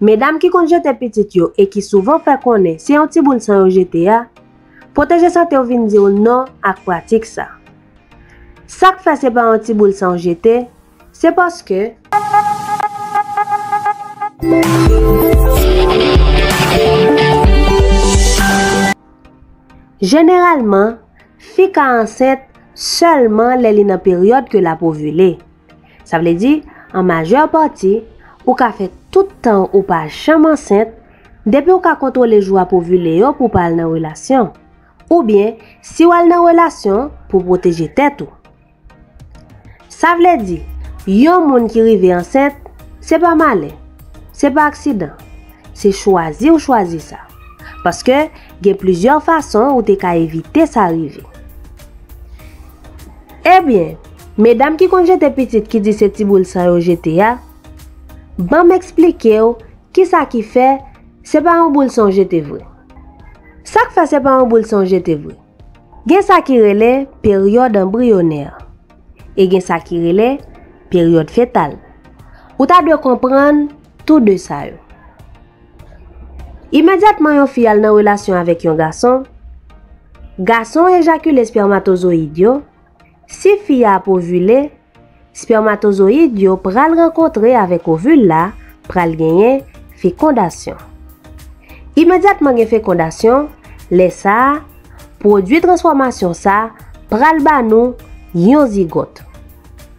Medam ki konn jete pitit yo e ki souvan fè konnen se yon ti boul san yo jete a, Pwoteje Sante w vin di w non ak pratik sa. Sa k fè se pa yon ti boul san w jete, se paske. Jeneralman, fi ka ansent sèlman lè li nan peryòd ke l ap ovile. Sa vle di, an majè pati, ou ka fè tout tan ou pa janm ansent, depi ou ka kontwole jou ap ovile yo pou w pa al nan relasyon. Oubyen, si w al nan relasyon, pou pwoteje tèt ou. Sa vle di, yon moun ki rive ansent, se pa malè, se pa aksidan, se chwazi ou chwazi sa. Paske, gen plizyè fason ou te ka evite sa rive. Ebyen, medam ki konn jete pitit ki di se ti boul san yo jete a, ban m eksplike w kisa ki fè se pa yon boul san w jete vre. Sa k fè se pa yon boul san w jete vre? Gen sa ki rele peryòd anbriyonè e gen sa ki rele peryòd fetal. Ou ta dwe konprann tou de sa yo. Imedyatman yon fi al nan relasyon avèk yon gason, gason ejakile spèmatozoyid yo, si fi a ap ovile, spèmatozoyid yo pral rankontre avèk ovil la, pral genyen fekondasyon. Imedyatman gen fekondasyon, lè sa, pwodui transfòmasyon sa pral ba nou yon zigòt.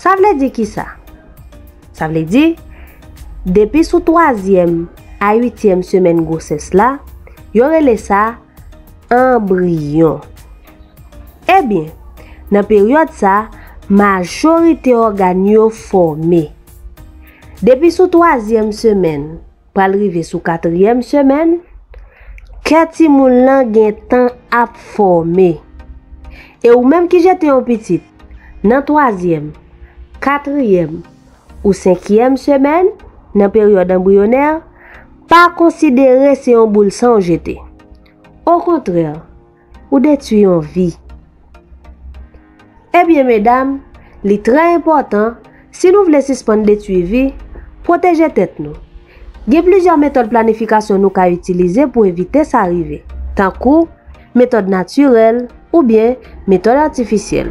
Sa vle di ki sa? Sa vle di, depi sou twazyèm a uityèm semèn gwosès la, yo rele sa anbriyon. Ebyen, nan peryòd sa, majorite ògàn yo fòme. Depi sou twazyèm semèn. pral rive sou katriyèm semèn, kè timoun lan gen tan ap fòme. E ou menm ki jete yon pitit nan twazyèm, katriyèm ou senkiyèm semèn nan peryòd anbriyonè, pa konsidere se yon boul san ou jete. Okontrè, Ou detwi yon vi. Ebyen medam, li trè enpòtan, si nou vle sispann detwi vi, pwoteje tèt nou. Gen plizyè metòd planifikasyon nou ka itilize pou evite sa rive, tankou, metòd natirèl, oubyen metòd atifisyèl.